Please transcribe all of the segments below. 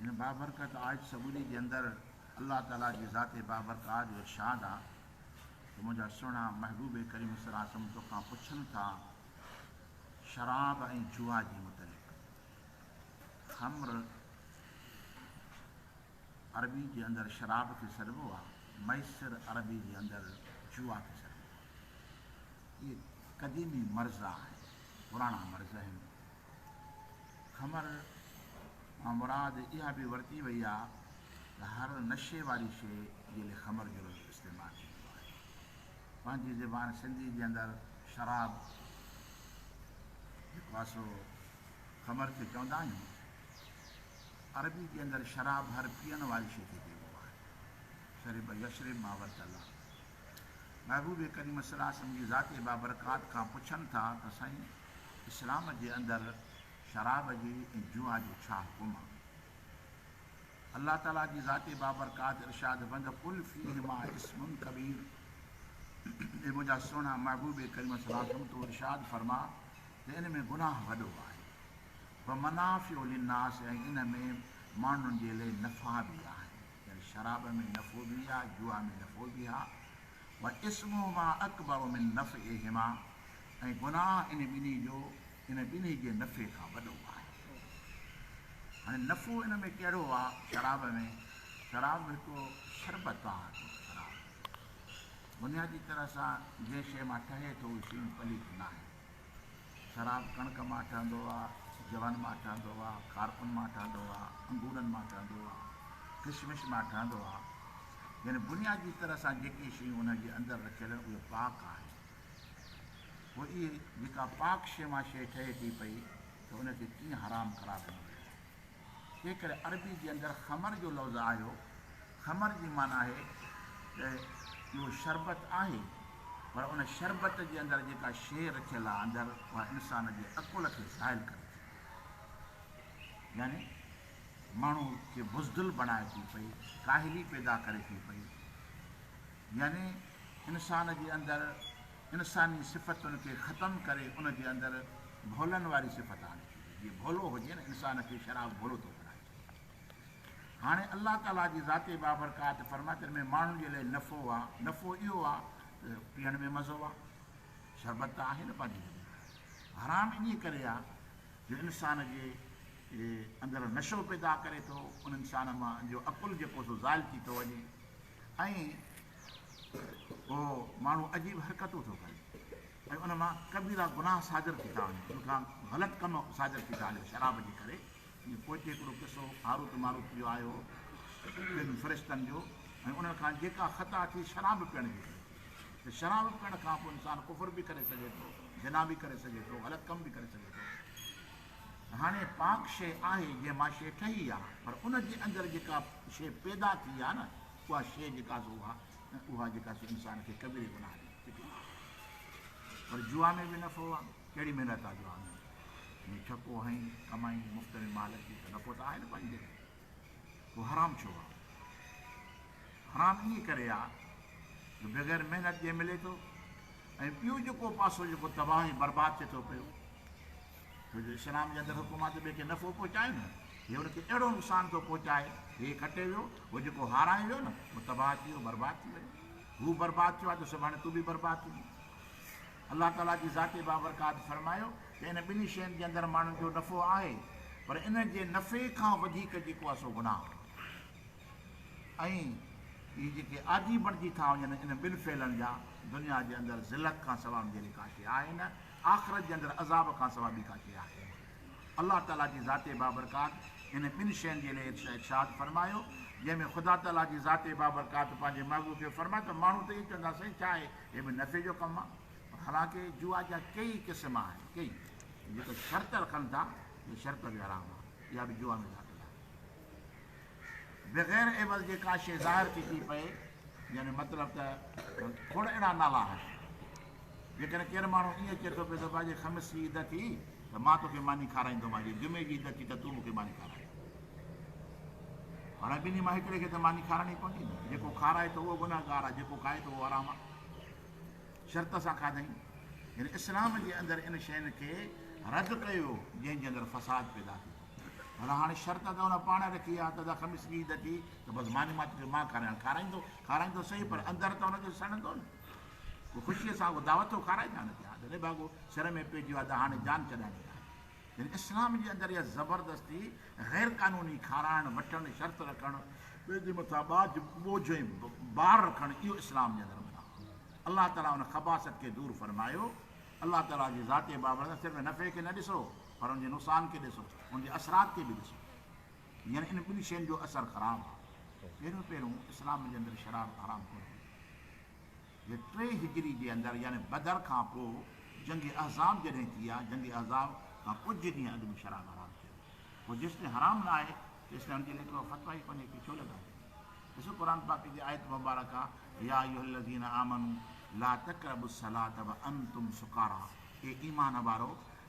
هن بابرڪت آيت سڳوري جي اندر الله تعالي جي ذات بابرڪات جو ارشاد آ ته منهنجا سهڻا محبوب ڪريم صلّي الله عليه وسلّم توکان پڇن ٿا شراب ۽ جوا جي متعلق، خمر عربي جي اندر شراب کي سڏبو آ، ميسر عربي جي اندر جوا کي سڏبو آ. اهي قديمي مرض آهن، پراڻا مرض آهن، خمر مان مراد اها به ورتي وئي آهي ته هر نشي واري شيء جي لئه خمر جو لفظ استعمال ٿيندو آهي. پنهنجي زبان سنڌي جي اندر شراب جيڪو آهي سو خمر کي چوندا آهيون. عربي جي اندر شراب هر پيئڻ واري شيء کي چئبو آهي. شرب يشرب ما ورتلا. محبوب ڪريم صلعم جي ذات بابرڪات کان پڇن ٿا ته سائين! اسلام جي اندر شراب جي ۽ جوا جو ڇا حڪم آهي؟ الله تعالي جي ذات بابرڪات ارشاد بند قل فيهما اسم ڪبير اي منهنجا سهڻا محبوب ڪريم صلي الله عليه وسلم تون ارشاد فرما ته ان ۾ گناهه وڏو آهي و منافع للناس ۽ ان ۾ ماڻهن جي لئي نفع به آهن يعني شراب ۾ نفعو به آهي جوا ۾ نفعو به آهي و اسمهما اڪبر من نفعهما ۽ گناهه انهي ٻنهي جو انهي ٻنهي جي نفعي کان وڏو آهي. هاڻي نفعو ان ۾ ڪهڙو آهي؟ شراب ۾، شراب به هڪ شربت آهي، هڪ شراب بنيادي طرح سان جنهن شيء مان ٺهي ٿو اهي شيون پليت ناهن. شراب ڪڻڪ مان ٺهندو آهي، جون مان ٺهندو آهي، کارپن مان ٺهندو آهي، انگورن مان ٺهندو آهي، ڪشمش مان ٺهندو آهي يعني بنيادي طرح سان جيڪي شيون ان جي اندر رکيل آهن اهي پاڪ آهن. پوء اهي جيڪا پاڪ شيء مان شيء ٺهي ٿي پئي ته ان کي ڪيئن حرام قرار ڏنو ويو آهي؟ تنهنڪري عربي جي اندر خمر جو لفظ آيو. خمر جي معنيٰ آهي ته اهو شربت آهي پر ان شربت جي اندر جيڪا شيء رکيل آهي اندر اها انسان جي عقل کي زائل ڪري ٿي پئي يعني ماڻهو کي بزدل بڻائي ٿي پئي، ڪاهلي پيدا ڪري ٿي پئي. يعني انسان جي اندر انساني صفتن کي ختم ڪري ان جي اندر ڀولن واري صفت آڻي ڇڏي جي ڀولو هجي نه انسان کي شراب ڀولو ٿو بڻائي ڇڏي هاڻي الله تعالي جي ذات بابرڪات فرمائي تن ۾ ماڻهن جي لاء نفو آ نفو اهو آ ته پيئڻ ۾ مزو آ شربت ته آهي نه پنهنجي جڳهه ته حرام انهي ڪري آ جو انسان جي اندر نشو پيدا ڪري ٿو ان انسان مان جو عقل جيڪو سو زائل ٿي ٿو وڃي ۽ اهو ماڻهو عجيب حرڪتون ٿو ڪري ۽ ان مان ڪبيرا گناهه صادر ٿي ٿا وڃن ان کان غلط ڪم صادر ٿي ٿا وڃن شراب جي ڪري جي پوئتي هڪڙو قصو هاروت ماروت جو آيو ٻن فرشتن جو ۽ انهن کان جيڪا خطا ٿي شراب پيئڻ جي ڪري ٿي ته شراب پيئڻ کان پوء انسان ڪفر به ڪري سگهي ٿو زنا به ڪري سگهي ٿو غلط ڪم به ڪري سگهي ٿو هاڻي پاڪ شيء آهي جنهن مان شيء ٺهي آ پر ان جي اندر جيڪا شيء پيدا ٿي آ نه اها شيء جيڪا سو اها اها جيڪا سو انسان کي ڪبيري گناهه جي فڪر آ پر جوا ۾ به نفعو آ ڪهڙي محنت آ جوا ۾ ۾ ڇڪو هنئين ڪمائين مفت ۾ مال اچي ته نفعو ته آهي نه پنهنجي پوء حرام ڇو آ حرام ائين ڪري آ جو بغير محنت جي ملي ٿو ۽ ٻيو جيڪو پاسو جيڪو تباهه برباد ٿئي ٿو پيو ڇو جو اسلام جي اندر حڪم آهي ته ٻئي کي نفعو پهچايو نه، هي ان کي اهڙو نقصان ٿو پهچائي، هي کٽي ويو، هو جيڪو هارايو ويو نه، هو تباهه ٿي ويو، برباد ٿي ويو، هو برباد ٿيو آهي ته سڀاڻي تون به برباد ٿيندين. الله تعاليٰ جي ذات بابرڪات فرمايو ته ان ٻنهي شين جي اندر ماڻهن جو نفعو آهي، پر ان جي نفعي کان وڌيڪ جيڪو آهي سو گناهه آهي ۽ اهي جيڪي عادي بڻجي ٿا وڃن ان ٻن فعلن جا، دنيا جي اندر ذلت کان سواء ان جهڙي ڪا شيء آهي نه، آخرت جي اندر عذاب کان سوا ٻي ڪا شيء آهي؟ الله تعاليٰ جي ذات بابرڪات انهن ٻن شين جي لئه ارشاد فرمايو، جنهن ۾ خدا تعاليٰ جي ذات بابرڪات پنهنجي محبوب کي فرمايو ته ماڻهو ته ائين چوندا آهن سائين ڇا اهي هي به نفعي جو ڪم آهي؟ پر حالانڪه جوا جا ڪيئي قسم آهن، ڪيئي جيڪي شرط رکن ٿا، اهي شرط به حرام آهن، اها به جوا ۾ داخل آهن. بغير عوض جي ڪا شيء ظاهر ٿي ٿي پئي، يعني مطلب ته کوڙ اهڙا نالا آهن. جيڪڏهن ڪير ماڻهو ائين چئي ٿو پئي ته ڀاڄي خميس جي عيد ٿي ته مان توکي ماني کارائيندومانء جي جمعي جي عيد ٿي ته تون مون کي ماني کارائي. هاڻي ٻنهي مان هڪڙي کي ته ماني کارائڻي پوندي نه. جيڪو کارائي ٿو اهو گنهگار آهي، جيڪو کائي ٿو اهو حرام آهي. شرط سان کاڌائين. يعني اسلام جي اندر ان شين کي رد ڪيو ويو جنهن جي اندر فساد پيدا ٿي ٿو. پر هاڻي شرط ته هن پاڻ رکي آ ته ادا خميس ڏينهن عيد اچي ته بس ماني ماتي جو مان کاريان، کارائيندو، کارائيندو سهي پر اندر ته هن کي سڙندو نه، هو خوشيء سان اهو دعوت ٿو کارائي ڇا نه ٿي ها دلي ڀاڳو سر ۾ پئجي ويو ادا هاڻي جان ڇڏائڻي آهي. يعني اسلام جي اندر اها زبردستي، غير قانوني کارائڻ، وٺڻ، شرط رکڻ، ٻئي جي مٿان ٻاجهه، ٻوجهه ۽ بار رکڻ اهو اسلام جي اندر منع آهي. الله تعاليٰ ان خباثت کي دور فرمايو. الله تعاليٰ جي ذات بابرڪت صرف نفعي کي نه ڏسو. پر ان جي نقصان کي ڏسو، ان جي اثرات کي به ڏسو. يعني ان ٻن شين جو اثر خراب آهي. پهريون پهريون اسلام جي اندر شرارت حرام ڪونه هئي. جي ٽي هجري جي اندر يعني بدر کان پوء جنگ احزاب جڏهن ٿي آهي، جنگ احزاب کان ڪجهه ڏينهن اڳ ۾ شراب حرام ٿيو. پوء جيستائين حرام نه آهي تيستائين ان جي ليک ۾ فتويٰ ئي ڪونهي ڪي ڇو لڳائي وڃي. ڏسو قرآن پاڪ جي آيت مبارڪ آ، يا ايها الذين آمنوا لا تقربوا الصلاة وانتم سڪارا، اي ايمان وارؤ!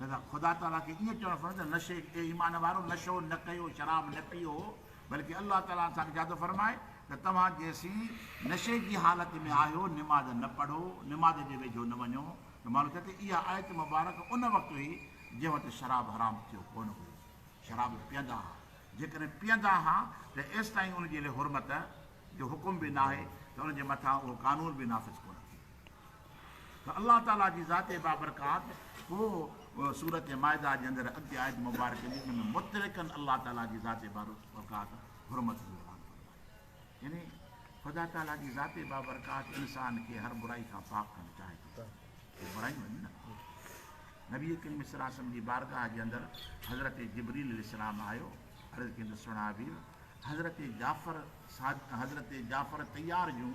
لذا خدا تعاليٰ کي ائين چوڻ فرمايو ته نشي اي ايمان وارؤ نشو نه ڪيو شراب نه پيئو بلڪه الله تعاليٰ اسان کي جادو فرمائي ته توهان جيسين نشي جي حالت ۾ آهيو نماز نه پڙهو نماز جي ويجهو نه وڃو ته معلوم ٿئي ته اها آيت مبارڪ ان وقت هئي جنهن وقت شراب حرام ٿيو ڪونه هيو شراب پيئندا ها جيڪڏهن پيئندا ها ته ايستائين ان جي لئه حرمت جو حڪم به ناهي ته ان جي مٿان اهو قانون به نافذ ڪونه ٿيو ته الله تعالي جي ذات بابرڪات پوء سورة مائده جي اندر اڳتي آيت مبارڪه جي ان ۾ مطلقاً الله تعالي جي ذات بابرڪات حرمت جو اعلان ڪندو آهي يعني خدا تعالي جي ذات بابرڪات انسان کي هر برائي کان پاڪ ڪرڻ چاهي ٿو ته برائي وڃي نه نبي ڪريم صلي الله علیه وسلم جي بارگاهه جي اندر حضرت جبريل عليه السلام آيو عرض ڪيندو سڻا وير حضرت جعفر حضرت جعفر تيار جون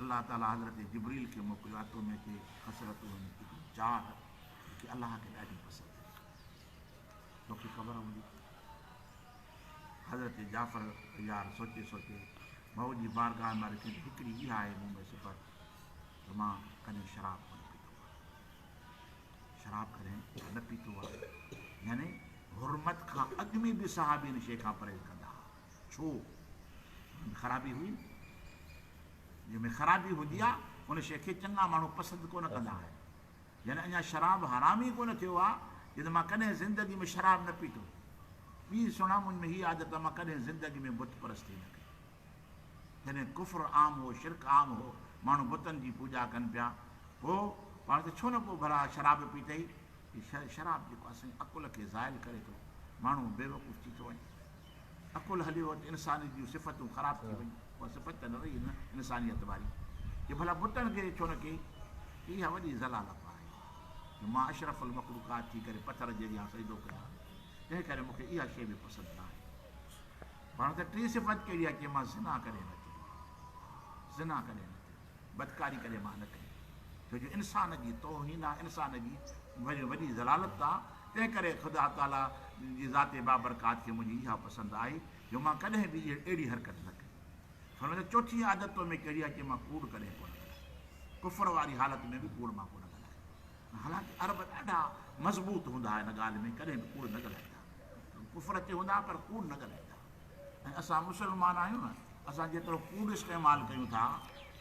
الله تعالي حضرت جبريل کي موڪليو آهي تو ۾ ڪي خصلتون آهن هڪڙي چاهه جيڪي الله کي ڏاڍي پسند آهي توکي خبر هوندي حضرت جعفر يار سوچي سوچي مئو جي بارگاهه مان رکي هڪڙي اها آهي مون ۾ صفت ته مان ڪڏهن شراب ڪونه پيتو آهي شراب ڪڏهن نه پيتو آهي يعني حرمت کان اڳ ۾ به صحابين شي کان پرهيز ڪندا ڇو؟ ان ۾ خرابي هئي نه؟ جنهن ۾ خرابي هوندي آ، ان شيء کي چڱا ماڻهو پسند ڪو نه ڪندا آهن. يعني اڃا شراب حرام ئي ڪو نه ٿيو آ، جو ته مان ڪڏهن زندگي ۾ شراب نه پيتو. ٻي سڻا، منهنج ۾ هيء عادت آ، مان ڪڏهن زندگي ۾ بت پرستي نه ڪئي. جڏهن ڪفر عام هو، شرڪ عام هو، ماڻهو بتن جي پوڄا ڪن پيا، پوء پاڻ کي ڇو نه ڪو ڀلا شراب پيتئي؟ هي شراب جيڪو آ، سائين عقل کي زائل ڪري ٿو، ماڻهو بيوقوف ٿي ٿو وڃي. عقل هليو ته انسانيت جون صفتون خراب ٿي ويون، اها صفت ته نه رهي نه انسانيت واري جو ڀلا بتن کي ڇو نه ڪي ڪي اها وڏي ذلالت آهي جو مان اشرف المخلوقات ٿي ڪري پٿر جي اڳيان سجدو ڪيان تنهن ڪري مون کي اها شيء به پسند نه آهي پاڻ ته ٽي صفت ڪهڙي آهي چيمانس زنا ڪڏهن نه ٿيندي زنا ڪڏهن نه ٿيندي. بدڪاري ڪڏهن مان نه ڪئي، ڇو جو انسان جي توهين آ، انسان جي وڏي ذلالت آ، تنهن ڪري خدا تعاليٰ جي ذات بابرڪات کي منهنجي اها پسند آهي جو مان ڪڏهن به اهڙي حرڪت نه ڪئي. فرمائيندو، چوٿين عادت تو ۾ ڪهڙي آ چي مان ڪوڙ ڪڏهن ڪونه ڳالهايو. ڪفر واري حالت ۾ به ڪوڙ مان ڪونه ڳالهايو. حالانڪ عرب ڏاڍا مضبوط هوندا هئا ان ڳالهه ۾ ڪڏهن به ڪوڙ نه ڳالهائيندا هئا. ڪفر تي هوندا هئا پر ڪوڙ نه ڳالهائيندا هئا. ۽ اسان مسلمان آهيون نه، اسان جيترو ڪوڙ استعمال ڪيون ٿا،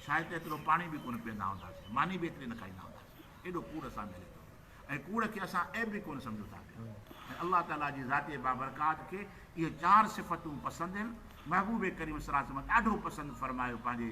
شايد ته ايترو پاڻي به ڪونه پيئندا هونداسين، ماني به ايتري نه کائيندا هونداسين، ايڏو ڪوڙ اسان ۾ هلي ٿو پيو ۽ ڪوڙ کي اسان عيب به ڪونه سمجهون ٿا پيا ۽ الله تعاليٰ جي ذات بابرڪات کي اهي چار صفتون پسند آهن، محبوب ڪريم صلعم ڏاڍو پسند فرمايو پنهنجي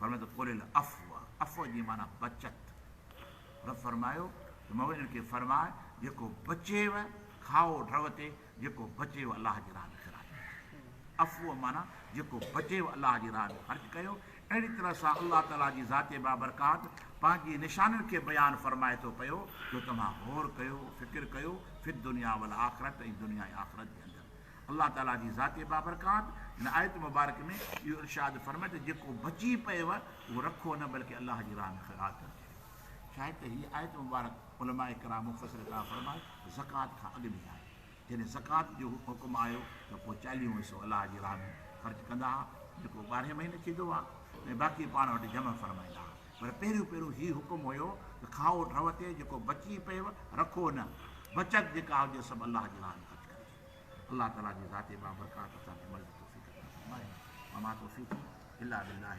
فرمايو ته قل العفو، عفو جي معنيٰ بچت. رب فرمايو ته مئو انهن کي فرماء، جيڪو بچيو کائو ڍؤ تي، جيڪو بچيو الله جي راهه ۾ خراج ڪيو. عفو معنيٰ جيڪو بچيو الله جي راهه ۾ خرچ ڪيو. اهڙي طرح سان الله تعاليٰ جي ذات بابرڪات پنهنجي نشانين کي بيان فرمائي ٿو پيو جو توهان غور ڪيو، فڪر ڪيو، في الدنيا والآخرة ۽ دنيا ۽ آخرت جي اندر. الله تعالي جي ذاتي بابرڪات هن آيت مبارڪ ۾ اهو ارشاد فرمائي ته جيڪو بچي پيئو اهو رکو نه بلڪه الله جي راهه ۾ خيرات ڪريو شايد ته هيء آيت مبارڪ علماء ڪرام مفسر ڪرام فرمائي ته زڪوات کان اڳ ۾ آهي جڏهن زڪوات جو حڪم آيو ته پوء چاليهون حصو الله جي راهه ۾ خرچ ڪندا ها جيڪو ٻارهين مهيني ٿيندو آهي ۽ باقي پاڻ وٽ جمع فرمائيندا ها پر پهريون پهريون هي حڪم هيو ته کائو ٽھوتي جيڪو بچي پيئو رکو نه بچت جيڪا هجي سڀ الله جي راهه ۾ خرچ ڪرجي الله تعالي جي ذاتي بابرڪات اسان کي عمل جي توفيق عطا فرمائي وما توفيقي الا بالله.